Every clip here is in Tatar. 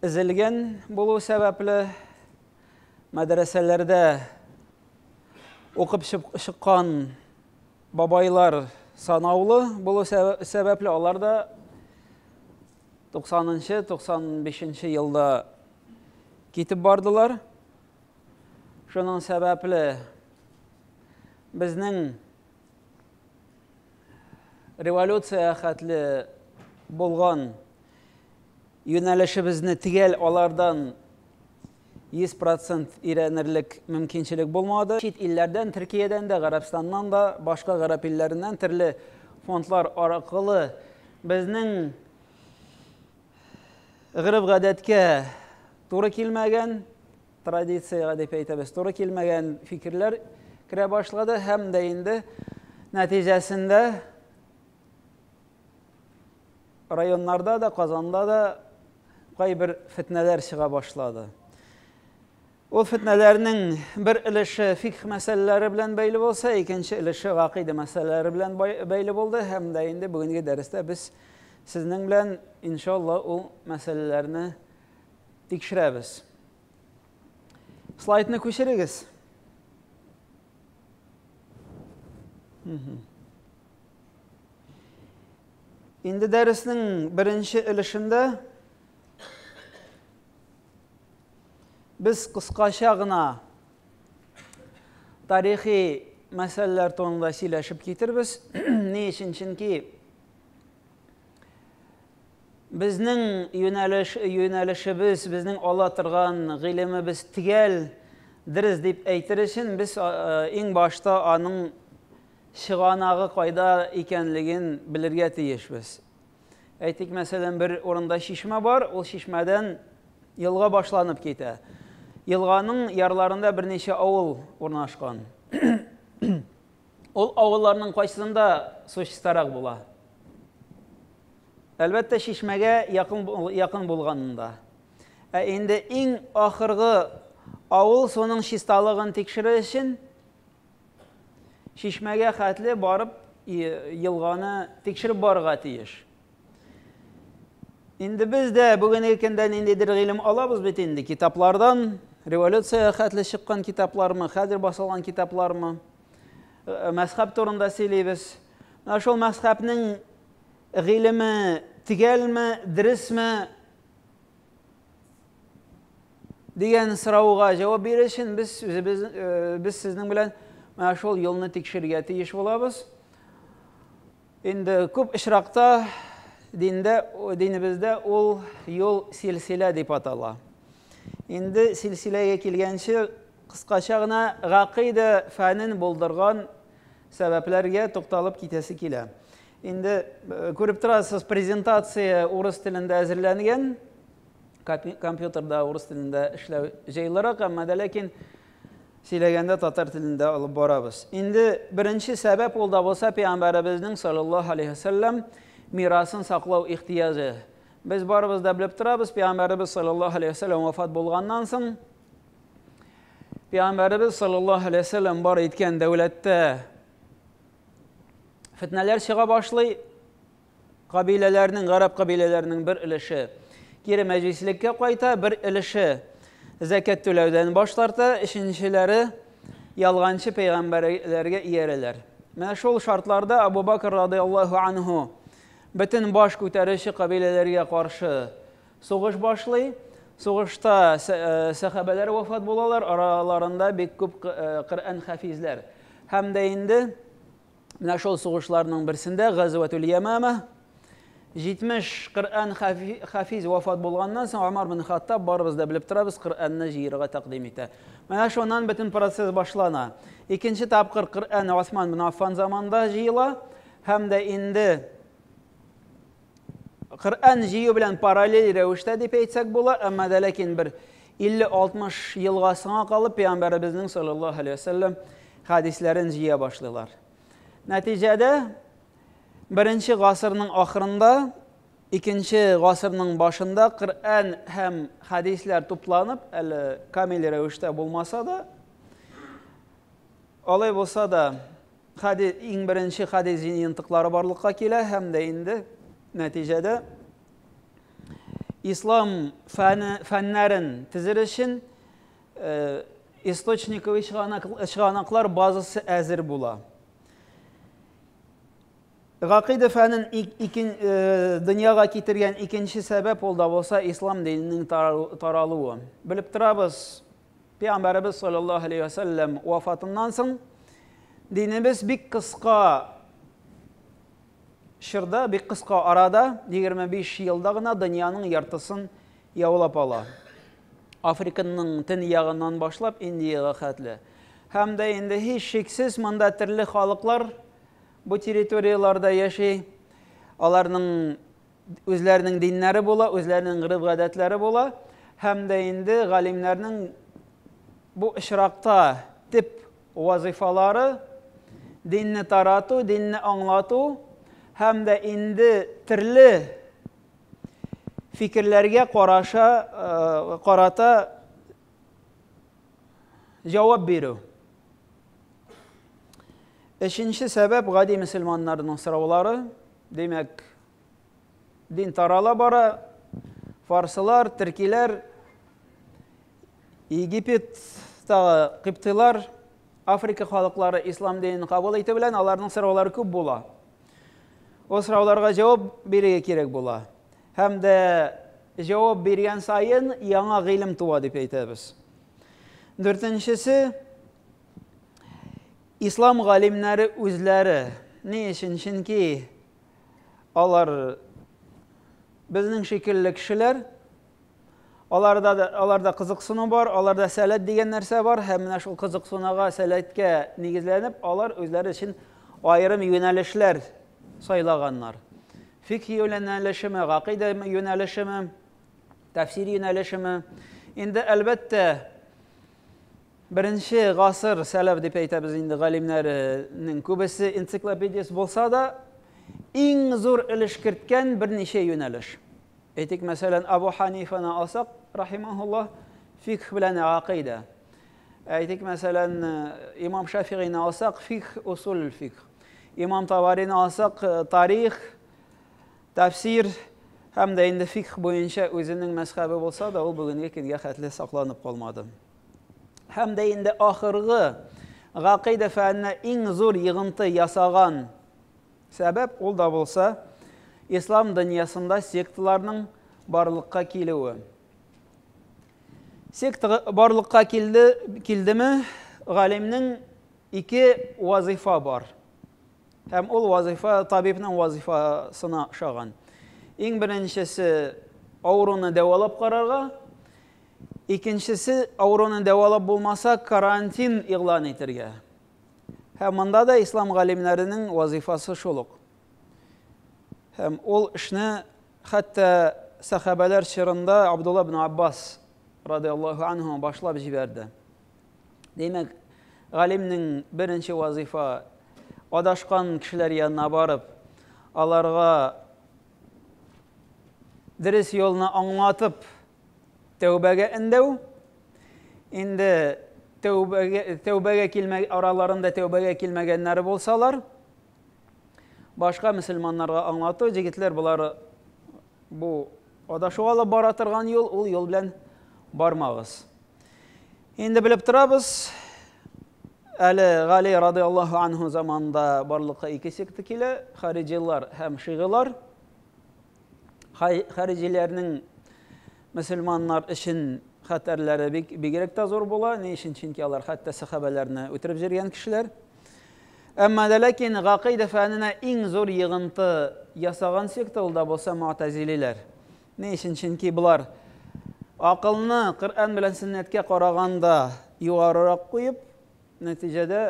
Өзелгән булу сәбәпле, мәдрәсәләрдә укып чыккан бабайлар санаулы булу сәбәпле, алар да 90-95 елда китеп бардылар. Шуның сәбәпле безнең революция хәтле булган Юнәлешебезне төгәл алардан 100 процент өйрәнерлек мөмкинчелек булмады. Чит илләрдән, Төркиядән дә, Гарәбстаннан да, башка гарәп илләреннән төрле фондлар аракылы безнең гореф-гадәткә туры килмәгән, традициягә дип әйтәбез, туры килмәгән фикерләр керә башлады һәм дә инде нәтиҗәсендә Районнарда да, Казанда да кайбер фетнәләр чыга башлады. Ул фетнәләрнең бер өлеше фикх мәсьәләләре белән бәйле булса, икенче өлеше гакыйдә мәсьәләләре белән бәйле булды һәм дә инде бүгенге дәрестә без сезнең белән иншалла ул мәсьәләләрне тикшерәбез. Слайдны күчерегез. Инде дәреснең беренче өлешендә без кыскача гына тарихи мәсьәләләр турында сөйләшеп китербез. Ни өчен? Чөнки безнең юнәлеш юнәлешебез, безнең ала торган гыйлемебез тигәл дөрес дип әйтер өчен без иң башта аның чыганагы кайда икәнлеген белергә тиешбез. Әйтик, мәсәлән, бер урында чишмә бар, ул чишмәдән елга башланып китә. Елганың ярларында берничә авыл урнашкан. Ул авылларның кайсында су чистарак була? Әлбәттә, чишмәгә якын, якын булганында. Ә инде иң ахыргы авыл суның чисталыгын тикшерер өчен Чишмәгә хәтле барып елганы тикшереп барырга тиеш. Инде без дә бүгенге көндә ниндидер гыйлем алабыз бит инде китаплардан, революция хәтле чыккан китаплармы, хәзер басылган китаплармы, э, мәсхәб турында сөйлибез. Менә шул мәсхәбнең гыйлеме тигәлме, дөресме, дигән сорауга җавап бирер өчен без үзебез э, без сезнең белән менә шул юлны тикшерергә тиеш булабыз. Инде күп очракта диндә динебездә ул юл силсилә дип атала. Инде силсиләгә килгәнче кыскача гына гакыйдә фәнен булдырган сәбәпләргә тукталып китәсе килә. Инде күреп торасыз, презентация урыс телендә әзерләнгән. Компьютерда урыс телендә эшләү җайлырак, әмма дә ләкин сөйләгәндә татар телендә алып барабыз. Инде беренче сәбәп ул да булса пәйгамбәребезнең саллаллаһу алейһи ва саллям мирасын саклау ихтыяҗы. Без барыбыз да белеп торабыз, пәйгамбәребез саллаллаһу алейһи ва саллям вафат булганнан соң пәйгамбәребез саллаллаһу алейһи ва саллям бар иткән дәүләттә фетнәләр чыга башлый. Кабиләләрнең, гарәп кабиләләренең бер өлеше кире мәҗлислеккә кайта, бер өлеше зәкәт түләүдән баш тарта, өченчеләре ялганчы пәйгамбәрләргә иярәләр. Менә шул шартларда Абу Бакр радиаллаһу анһу бөтен баш күтәрүче кабиләләргә каршы Сугыш башлый. Сугышта сәхабәләр вафат булалар, араларында бик күп Коръән хафизләр. Һәм дә инде менә шул сугышларның берсендә Газватул Ямама 70 Коръән хафиз вафат булганнан соң Умар бин Хаттаб барыбыз да белеп торабыз, Коръәнне җыерга тәкъдим итә. Менә шуннан бөтен процесс башлана. Икенче тапкыр Коръән Осман бин Аффан заманында җыела һәм дә инде Коръән җыю белән параллель рәвештә дип әйтсәк була, әмма дә ләкин бер 50-60 елга соңа калып пәйгамбәребезнең саллаллаһу алейһи вәсәлләм хәдисләрен җыя башлыйлар. Нәтиҗәдә беренче гасырның ахырында, икенче гасырның башында Коръән һәм хәдисләр тупланып, әле камил рәвештә булмаса да, алай булса да, Хәди, иң беренче хәди җыентыклары барлыкка килә һәм дә инде нәтиҗәдә ислам фәне, фәннәрен тезер өчен э, источниковый чыганаклар базасы әзер була. Гакыйда фәнен икен, э, дөньяга китергән икенче сәбәп ул да булса ислам диненең таралуы. Белеп торабыз, Пәйгамбәребез саллаллаһу алейһи ва сәлләм вафатыннан соң динебез бик кыска чорда, бик кыска арада, 25 елда гына дөньяның яртысын яулап ала. Африканың тен ягыннан башлап Индиягә хәтле. Һәм дә инде һич шиксез монда төрле халыклар бу территорияләрдә яши. Аларның Үзләренең диннәре була, үзләренең гырыф-гадәтләре була. Һәм дә инде галимнәрнең бу очракта тип вазыйфалары динне тарату, динне аңлату һәм дә инде төрле фикерләргә караша, э, карата җавап бирү. Өченче сәбәп гади мөселманнарның сораулары. Димәк, Дин тарала бара. Фарсылар, төркиләр, Египеттагы кыптыйлар, Африка халыклары ислам динен кабул итү белән аларның сораулары күп була. Ул сорауларга җавап бирергә кирәк була. Һәм дә җавап биргән саен яңа гыйлем туа дип әйтәбез. Дүртенчесе ислам галимнәре үзләре. Ни өчен? Чөнки Алар безнең шикелле кешеләр. Аларда да, аларда кызыксыну бар, аларда сәләт дигән нәрсә бар һәм менә шул кызыксынуга, сәләткә нигезләнеп, алар үзләре өчен аерым юнәлешләр сайлаганнар. Фикх юнәлешеме, гакыйдә юнәлешеме, тәфсир юнәлешеме. Инде әлбәттә, Беренче гасыр сәләф дип әйтәбез инде галимнәренең күбесе энциклопедист булса да, иң зур өлеш керткән берничә юнәлеш. Әйтик, мәсәлән, Абу Ханифаны алсак, рахимаһуллаһ, фикх белән акыйдә. Әйтик, мәсәлән, имам Шафигыйны алсак, фикх, усуль фикх. Имам Таварины алсак, тарих, Тәфсир һәм дә инде фикх буенча үзенең мәзхәбе булса да, ул бүгенге көнгә хәтле сакланып калмады. Һәм дә инде ахыргы гакыйдә фәненә иң зур йыгынты ясаган сәбәп ул да булса, ислам дөньясында секталарның барлыкка килүе. Секта барлыкка килде, килдеме, галимнең ике вазифа бар. Һәм ул вазыйфа табибның вазыйфасына ошаган. Иң беренчесе авыруны дәвалап карарга, икенчесе авыруны дәвалап булмаса карантин игълан итергә. Һәм монда да ислам галимнәренең вазыйфасы шул ук. Һәм ул эшне хәтта сахабәләр чорында Абдулла ибн Аббас радиаллаһу анһу башлап җибәрде. Димәк, галимнең беренче вазифа адашкан кешеләр янына барып, аларга дөрес юлны аңлатып, тәүбәгә эндәү. Инде тәүбәгә тәүбәгә килмә араларында тәүбәгә килмәгәннәр булсалар, башка мөселманнарга аңлату, җегетләр болар Бу адашу алып бара торган юл, ул юл белән бармагыз. Инде белеп торабыз, әле Гали радыйаллаһу анһу заманында барлыкка ике секта килә, хариҗилар һәм шигылар. Хариҗиләрнең мөселманнар өчен хәтәрләре бигрәк тә зур була. Ни өчен? Чөнки алар хәтта сәхабәләрне үтереп җөргән кешеләр. Әмма дә ләкин гакыйдә фәненә иң зур йыгынты ясаган секта ул да булса мөътәзилиләр. Ни өчен? Чөнки болар акылны Коръән белән сөннәткә караганда югарырак куеп, нәтиҗәдә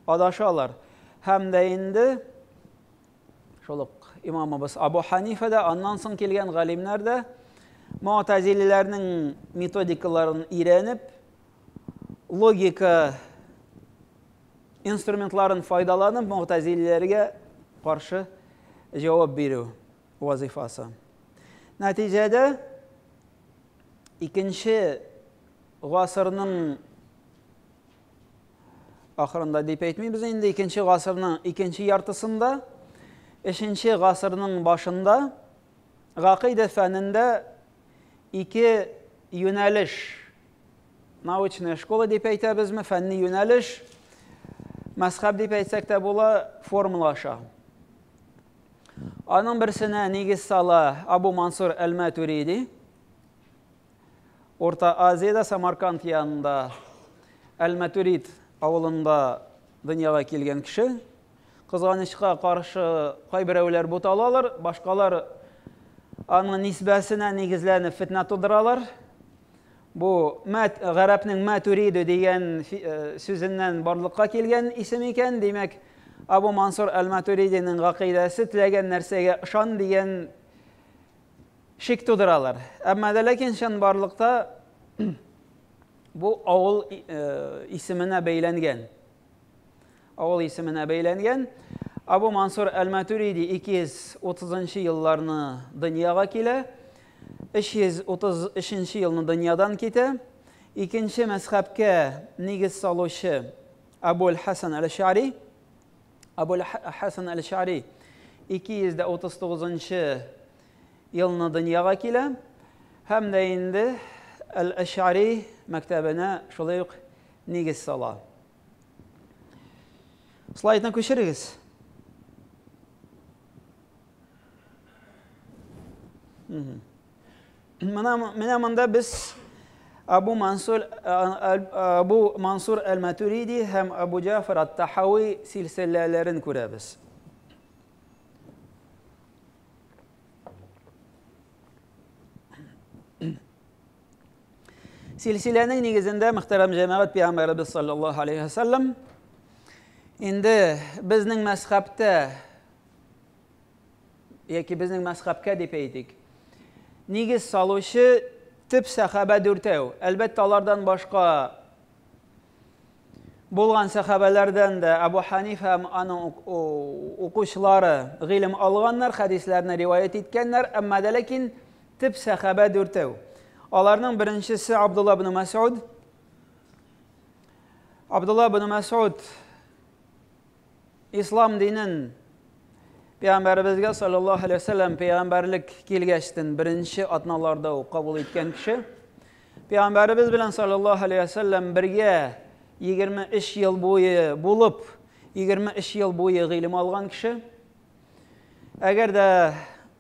адашалар. Һәм дә инде шул ук имамыбыз Абу Ханифа да, аннан соң килгән галимнәр дә мөътәзилиләрнең методикаларын өйрәнеп, Логика инструментларын файдаланып, мөгътәзилиләргә каршы җавап бирү вазифасы. Нәтиҗәдә икенче гасырның ахырында дип әйтмибез инде, икенче гасырның икенче яртысында, өченче гасырның башында гакыйдә фәнендә ике юнәлеш Научная школа дип әйтәбезме, фәнни юнәлеш, мәсхәб дип әйтсәк тә була, формула аша. Аның берсенә нигез сала Абу Мансур Әл-Матуриди. Орта Азиядә Самарканд янында Әл-Матурид авылында дөньяга килгән кеше, Кызганычка каршы, кайберәүләр буталалар, башкалар аның нисбәсенә нигезләнеп фетнә тудыралар. Бу мәт, гарәпнең мәтүриде дигән э, сүзеннән барлыкка килгән исем икән, димәк, Абу Мансур әл-Матуридинең гакыйдәсе теләгән нәрсәгә ышан дигән шик тудыралар. Әмма дә ләкин чынбарлыкта бу авыл э, исеменә бәйләнгән. Авыл исеменә бәйләнгән Абу Мансур Әл-Матуриди 230 елларны дөньяга килә, 333 елны дөньядан китә. Икенче мәзхәбкә нигез салучы Абуль Хасан Әл-Шари. Абуль Хасан Әл-Шари 239 елны дөньяга килә һәм дә инде Әл-Шари мәктәбенә шулай ук нигез сала. Слайдны күчерегез. Менә монда без Абу Мансур Абу Мансур Әл-Матуриди һәм Абу Җафар Ат-Тахави силсиләләрен күрәбез. Силсиләнең нигезендә мөхтәрәм җәмәгать пәйгамбәребез саллаллаһу алейһи вәсәлләм инде безнең мәсхәптә яки безнең мәсхәпкә дип әйтик нигез салучы төп сәхабә дүртәү әлбәттә алардан башка Булган сәхабәләрдән дә Абу Ханифа һәм аның укучылары гыйлем алганнар, хәдисләрне риваять иткәннәр, әмма дә ләкин төп сәхабә дүртәү. Аларның беренчесе Абдулла ибн Мәсгуд. Абдулла ибн Мәсгуд Ислам динен Пәйгамбәребезгә саллаллаһу алейһи вәсәлләм пәйгамбәрлек килгәчтен беренче атналарда ук кабул иткән кеше. Пәйгамбәребез белән саллаллаһу алейһи вәсәлләм бергә 23 ел буе булып, 23 ел буе гыйлем алган кеше. Әгәр дә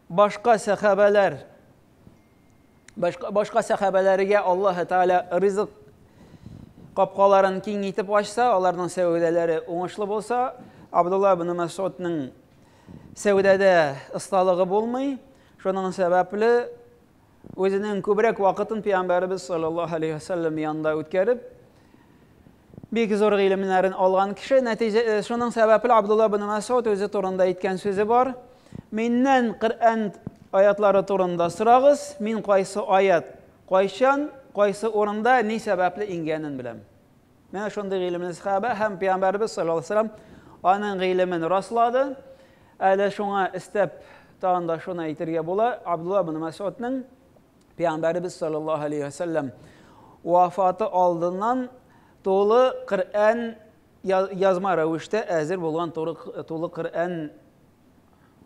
башка сәхабәләр Башка, башка сәхәбәләргә Аллаһы Тәгалә ризык капкаларын киң итеп ачса, аларның сәүдәләре уңышлы булса, Абдулла ибн Мәсудның сәүдәдә осталыгы булмый. Шуның сәбәпле үзенең күбрәк вакытын пәйгамбәребез саллаллаһу алейһи вәсәлләм янында үткәреп, Бик зур гыйлемнәрен алган кеше, нәтиҗә, э, шуның сәбәпле Абдулла ибн Мәсгуд үзе турында әйткән сүзе бар. Миннән Коръән аятлары турында сорагыз, мин кайсы аят, кайчан, кайсы урында, ни сәбәпле иңгәнен беләм. Менә шундый гыйлемле сахабә һәм пәйгамбәрбез саллаллаһу алейһи вәсәлләм аның гыйлемен раслады. Әле шуңа истәп тагын да шуны әйтергә була, Абдулла ибн Мәсгудның Пәйгамбәребез саллаллаһу алейһи ва сәлләм вафаты алдыннан тулы Коръән язма рәвештә әзер булган тулы Коръән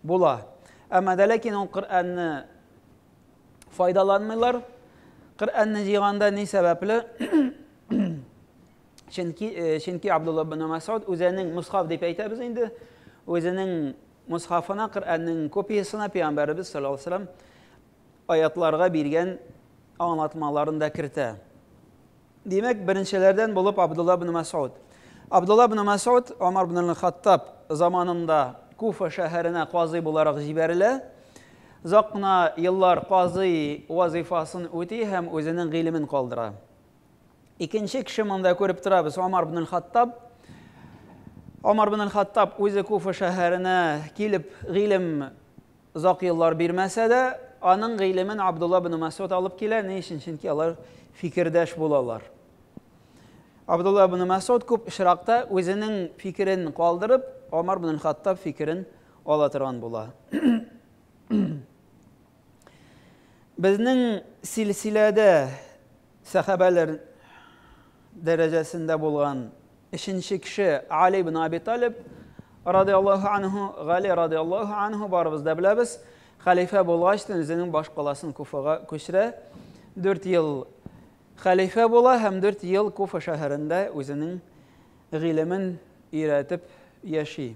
була. Әмма дә ләкин ул Коръәнне файдаланмыйлар. Коръәнне җыйганда ни сәбәпле? Чөнки э, чөнки Абдулла ибн Масуд үзенең мусхаф дип әйтәбез инде, үзенең мусхафына Коръәннең копиясенә пәйгамбәребез саллаллаһу алейһи Аятларга биргән аңлатмаларын да кертә. Димәк, беренчеләрдән булып Абдулла ибн Мәсгуд. Абдулла ибн Мәсгуд Омар ибн аль-Хаттаб заманында Куфа шәһәренә казый буларак җибәрелә. Озак кына еллар казый вазифасын үти һәм үзенең гыйлемен калдыра. Икенче кеше монда күреп торабыз Омар ибн аль-Хаттаб. Омар ибн аль-Хаттаб үзе Куфа шәһәренә килеп гыйлем Озак еллар бирмәсә дә, аның гыйлемен Абдулла бен Мәсгуд алып килә. Ни өчен? Чөнки алар фикердәш булалар. Абдулла бен Мәсгуд күп очракта үзенең фикерен калдырып, Омар бен Хаттаб фикерен ала торган була. Безнең силсиләдә Сәхабәләр дәрәҗәсендә булган өченче кеше Али ибн Аби Талиб радиаллаһу анһу, Гали радиаллаһу анһу барыбыз да беләбез, хәлифә булгач та үзенең баш каласын Куфага күчерә. 4 ел хәлифә була һәм 4 ел Куфа шәһәрендә үзенең гыйлемен өйрәтеп яши.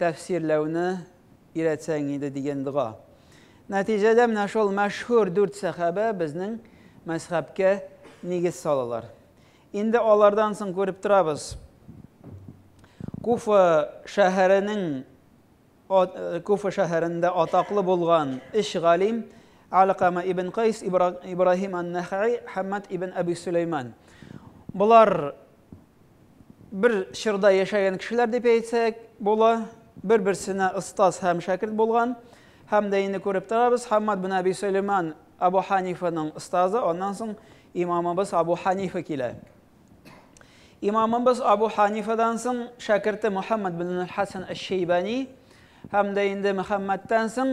Тәфсирләүне өйрәтсәң иде дигән дога. Нәтиҗәдә менә шул мәшһүр дүрт сәхабә безнең мәзхәбкә нигез салалар. Инде алардан соң күреп торабыз, Куфа шәһәренең Куфа шәһәрендә атаклы булган өч галим, Алкама ибн Кайс, Ибраһим ан-Нәхәи, Хаммад ибн Әби Сөләйман. Болар бер чорда яшәгән кешеләр дип әйтсәк була, бер-берсенә остаз һәм шәкерт булган. Һәм дә инде күреп торабыз, Хаммад бин Әби Сөләйман Абу Ханифаның остазы, аннан соң имамыбыз Абу Ханифа килә. Имамыбыз Абу Ханифадан соң шәкерте Мөхәммәд бин Хасан әш-Шәйбани һәм дә инде Мөхәммәдтән соң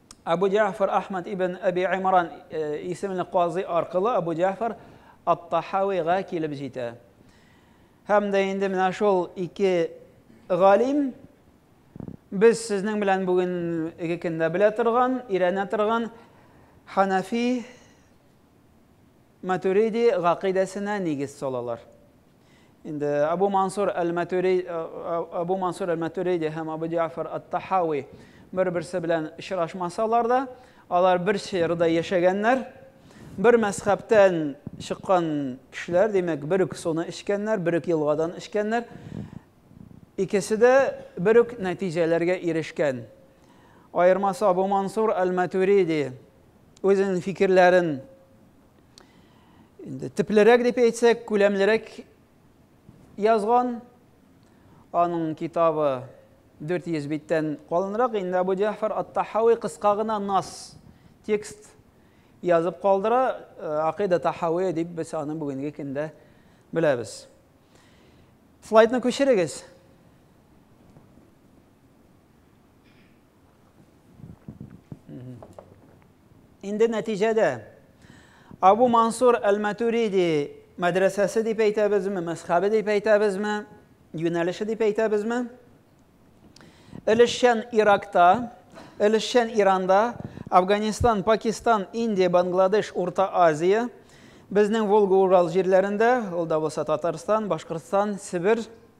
Абу Җафар Ахмад ибн Әби Имран э, исемле казый аркылы Абу Җафар Ат-Тахавига килеп җитә. Һәм дә инде менә шул ике галим без сезнең белән бүгенге көндә белә торган, өйрәнә торган Ханафи Матуриди гакыйдәсенә нигез салалар. Инде Абу Мансур әл-Матүри, Абу Мансур әл-Матүриди һәм Абу Җафар ат-Тахави бер-берсе белән очрашмасалар да, алар бер чорда яшәгәннәр, бер мәзхәбтән чыккан кешеләр, димәк, бер үк суны эчкәннәр, бер үк елгадан эчкәннәр. Икесе дә бер үк нәтиҗәләргә ирешкән. Аермасы Абу Мансур әл-Матүриди үзенең фикерләрен инде төплерәк дип әйтсәк, күләмлерәк язган. Аның китабы 400 биттән калынрак. Инде Абу Җафар Ат-Тахави кыска гына нас текст язып калдыра. Э, Акыйда Тахави дип без аны бүгенге көндә беләбез. Слайдны күчерегез. Инде нәтиҗәдә Абу Мансур Әл-Матуриди мәдрәсәсе дип әйтәбезме, мәсхабе дип әйтәбезме, юнәлеше дип әйтәбезме? Өлешчән Иракта, өлешчән Иранда, Афганистан, Пакистан, Индия, Бангладеш, Урта Азия, безнең Волга-Урал җирләрендә, ул да булса Татарстан, Башкортстан, Себер,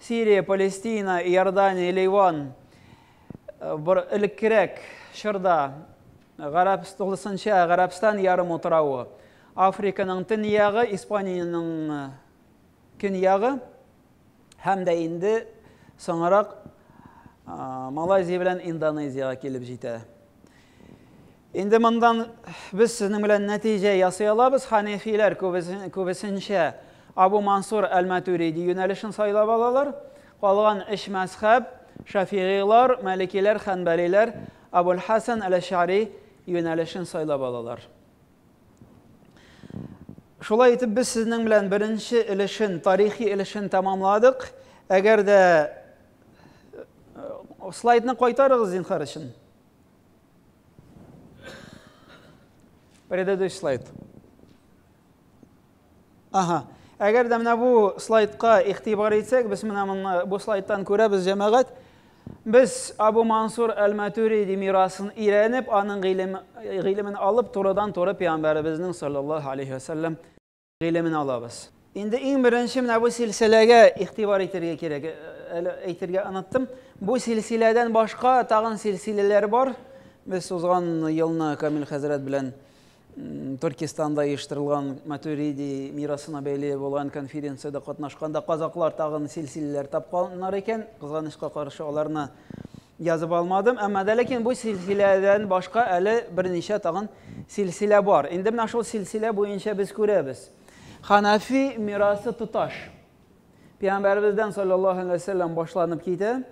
Сирия, Палестина, Иордания, Ливан бер элеккерәк чорда Гарәп тулысынча Гарәпстан ярым утравы, Африканың төньягы, Испаниянең көньягы һәм дә инде соңрак Малайзия белән Индонезиягә килеп җитә. Инде мондан без сезнең белән нәтиҗә ясый алабыз, ханефиләр күбесенчә Абу Мансур әл-Матуриди юнәлешен сайлап алалар, калган өч мәзхәб, шафигыйлар, мәликиләр, хәнбәлиләр, Абул-Хәсән әл-Әш'әри юнәлешен сайлап алалар. Шулай итеп без сезнең белән беренче өлешен, тарихи өлешен тәмамладык. Әгәр дә э, слайдны кайтарыгыз зинхар өчен. Предыдущий слайд. Ага. Әгәр дә менә бу слайдка игътибар итсәк, без менә моны бу слайдтан күрәбез, җәмәгать. Без Абу Мансур әл-Матуриди мирасын өйрәнеп, аның гыйлемен алып, турыдан-туры пәйгамбәребезнең саллаллаһу алейһи ва гыйлемен алабыз. Инде иң беренче менә бу силсиләгә игътибар итәргә кирәк. Э, әле әйтергә оныттым. Бу силсиләдән башка тагын силсиләләр бар. Без узган елны Камил хәзрәт белән Төркистанда оештырылган Матуриди мирасына бәйле булган конференциядә катнашканда казаклар тагын силсиләләр тапканнар икән. Кызганычка каршы аларны Язып алмадым, әмма дә ләкин бу силсиләдән башка әле берничә тагын силсилә бар. Инде менә шул силсилә буенча без күрәбез. Ханафи мирасы тоташ. Пәйгамбәребездән саллаллаһу алейһи ва сәлләм башланып китә.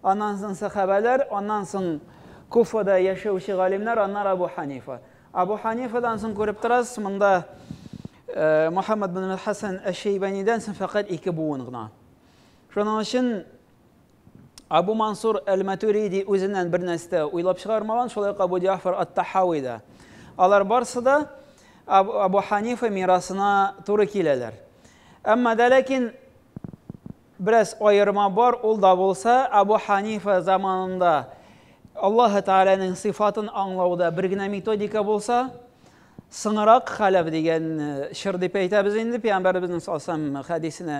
Аннан соң сахабәләр, аннан соң Куфада яшәүче галимнәр, аннары Абу Ханифа. Абу Ханифадан соң күреп торасыз, монда э, Мухаммад бин Хасан әш-Шәйбанидән соң фәкать ике буын гына. Шуның өчен Абу Мансур әл-Матуриди үзеннән бер нәрсә дә уйлап чыгармаган, шулай ук Абу Җәгъфар ат-Тахави да. Алар барысы да Абу Ханифа мирасына туры киләләр. Әмма дә ләкин бераз аерма бар, ул да булса, Абу Ханифа заманында Аллаһы Тәгаләнең сыйфатын аңлауда бер генә методика булса, сынырак хәләф дигән чыр дип әйтәбез инде, пәйгамбәребезнең саллаллаһу алейһи ва саллям хәдисенә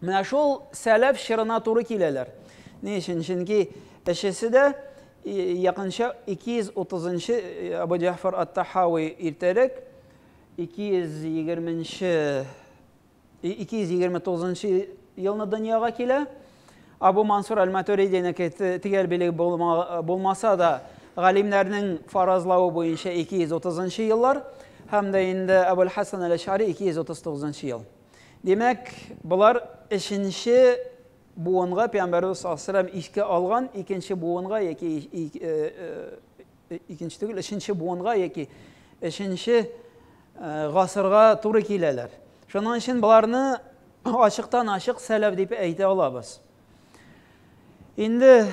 Менә шул сәләф чорына туры киләләр. Ни өчен? Чөнки өчесе дә якынча 230 нчы Абу Җафар ат-Тахави иртәрәк 220 нчы 229 нчы елны дөньяга килә. Абу Мансур аль-Матуридинеке төгәл билег булмаса да, галимнәрнең фаразлавы буенча 230 нчы еллар һәм дә инде Абул Хасан аль-Әш'ари 239 нчы ел. Димәк, болар өченче буынга пәйгамбәребез саллаллаһу искә алган икенче буынга яки икенче түгел, өченче буынга яки өченче гасырга туры киләләр. Шуның өчен боларны ачыктан ачык сәләф дип әйтә алабыз. Инде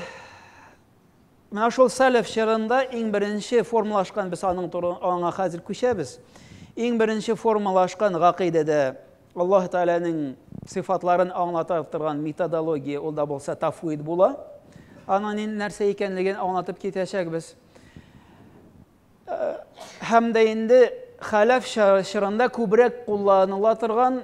Менә шул сәләф чорында иң беренче формалашкан, без аның туры, аңа хәзер күчәбез. Иң беренче формалашкан гакыйдәдә Аллаһ Тәгаләнең сыйфатларын аңлата торган методология ул да булса тафвид була. Аның нәрсә икәнлеген аңлатып китәчәкбез. Һәм дә инде хәләф чорында күбрәк кулланыла торган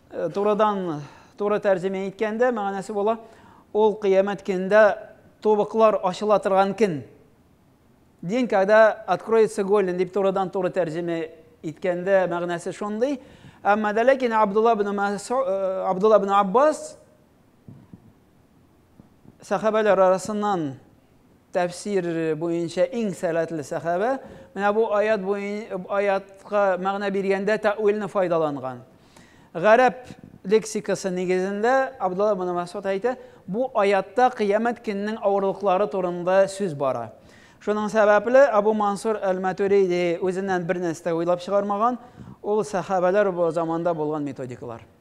Турыдан туры тәрҗемә иткәндә мәгънәсе була, ул кыямәт көнендә тубыклар ачыла торган көн. Дин когда откроется голен дип турыдан туры тәрҗемә иткәндә мәгънәсе шундый. Әмма дә ләкин Абдулла ибн Абдулла ибн Аббас Сәхабәләр арасыннан тәфсир буенча иң сәләтле сәхабә менә бу аят буен, аятка мәгънә биргәндә тәвилне файдаланган. Гарәп лексикасы нигезендә Абдулла ибн Масуд әйтә, бу аятта кыямәт көненең авырлыклары турында сүз бара. Шуның сәбәпле Абу Мансур әл-Матуриди үзеннән бер нәрсә уйлап чыгармаган, ул сәхабәләр заманда булган методикалар.